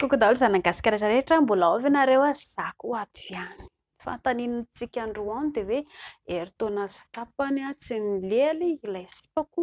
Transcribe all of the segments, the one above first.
Koko daholo zanany gasikara rehetra mbola ao ve nareo a za koa ato ihany fantaniny tsika androany de hoe eritaona sy tapany a tsy milealy ilay sipako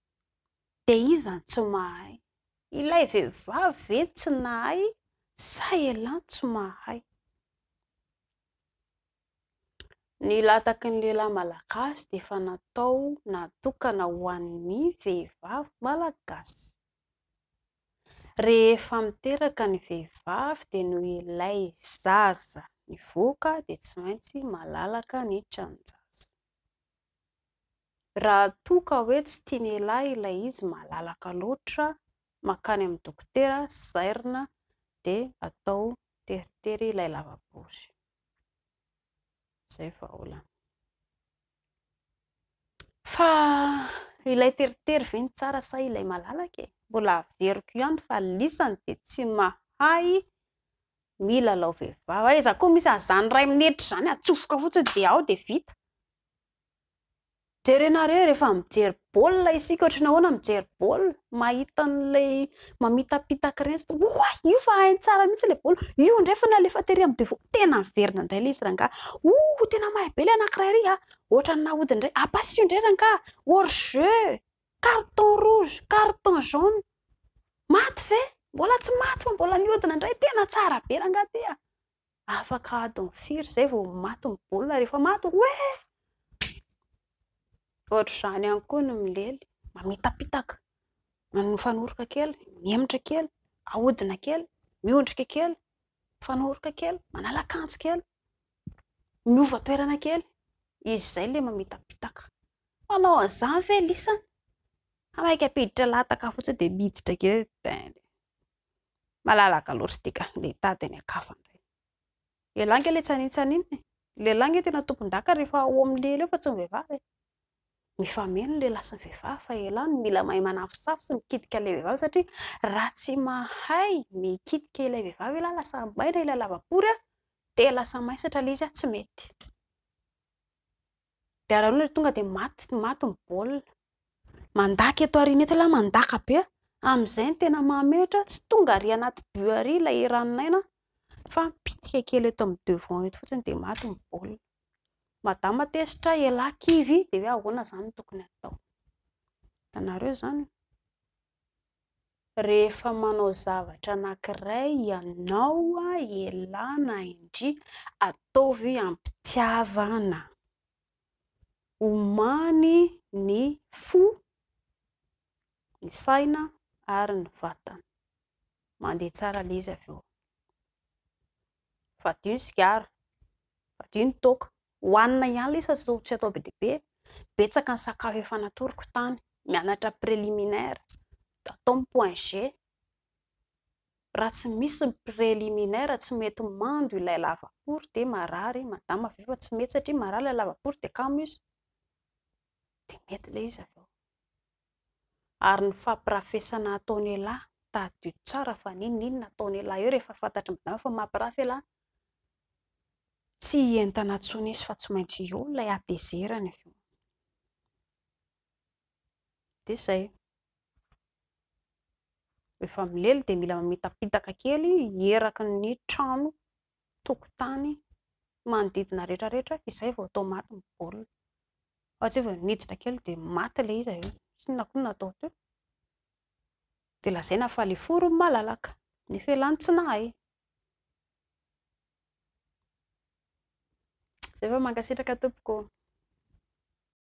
Dia iza no tsy mahay? Ilay vehivavy ve no tsy nahay sa elah no tsy mahay? Ny lataky ny lehilahy malagasy dia efa natao natokana ho an'ny vehivavy malagasy. Rehefa miteraka ny vehivavy dia noho ilay zaza mivoaka dia tsy maintsy malalaka ny tranon-jaza. Raha toa ka hoe tsy tian'ialahy ilay izy malalaka loatra, mankany amin'ny dokotera, zairina, dia atao teritery ilay lavabory. Izay vahaolana. Fa ilay teritery ve no tsara sa ilay malalaka e? Mbola averiko ihany fa lisany dia tsy mahay milalao vehivavy. Aiza koa misy an'izany iray minitra izany, atsofoka fotsiny dia ao dia vita. Jerenareo rehefa mijery baolina isika ohatry ny ahoana mijery baolina, mahita an'ilay mamitapitaka ireny satria oay io fa hainy tsara mihitsy ilay baolina, io indray fa nalefa tery amin'ny defaut, tena miverina indray ilay izy rangahy, oh tena mahay be ilay anankiray iry an, ohatran'ny nahodiny indray, à pas io indray rangahy, hors jeu, carton rouge, carton jaune, maty ve? Mbola tsy maty fa mbola mihodina indray, tena tsara be rangahy ity an! Afaka adiny firy izay vao maty ny baolina rehefa maty hoe eh! Ohatr'izany ihany koa ny milely, mamitapitaka, mifanoroka kely, mihemotra kely, ahodina kely, miondrika kely, mifanoroka kely, manala akanjo kely, miova toerana kely. Izy izay ilay mamitapitaka. Manao an'izany ve lisany? Maika ampiditra lahataka fotsiny dia miditra kely. Malalaka loatra ity ka, ndeha hitady any an-kafa indray. Lehilahy ange ilay tsaninontsaniana e! Ny lehilahy ange tena tompondaka rehefa ao amin'ny lia ilay fa tsy ny vehivavy e! Mifameno ny lehilahy sy ny vehivavy fa ialahy no mila mahay manafosafo sy mikitika ilay vehivavy satria raha tsy mahay mikitika ilay vehivavy ialahy lasa maina ilay lavapory dia lasa maisatra ilay izy tsy mety. Dia raha noana tonga dia maty maty ny baolina. Mandaka eto aoriana eto ialahy mandaka be amin'izay ny tena mahamehitra tsy tonga ary anaty but ary ilay eran'ny naina fa mipitika kely eto amin'ny devant eto fotsiny dia maty ny baolina. Madama tezitra ialahy kivy dia hoe ahoana izany no tokony hatao. Hitanareo izany. Rehefa manao zavatra anankiray ianao, ialahy na indria, ataovy am-pitiavana. Omany ny fo, ny saina ary ny vatana. Mandeha tsara ilay izy avy eo. Fadio ny sigara, fadio ny toaka. Hohanina ihany lesy fa tsy atao tsy atao be dia be e! Betsaka ny sakafo efa natoroko tany, mianatra préliminaire, atao ny point G, raha tsy misy ny préliminaire tsy mety mando ilay lavapory dia marary madama avy eo fa tsy mety satria marary ilay lavapory dia kamo izy dia mety ilay izy avy eo. ary ny fampirafesana ataon'ialahy tadidio tsara fa n'inon'inona ataon'ialahy eo rehefa fantatry ny vady amanao fa mampirafy ialahy tsy hientana intsony izy fa tsy maintsy eo ilay hatezerany avy eo dia izay rehefa milely dia mila mamitapitaka kely hieraky ny trano tokotany manodidina rehetra rehetra izay vao atao maty ny baolina, fa tsy hoe vao niditra kely dia maty ilay izy avy eo, tsy inona koa no natao teo, dia lazaina fa ilay fo no malalaka nefa elah no tsy nahay, zay fa mankasitraka tompoko ô.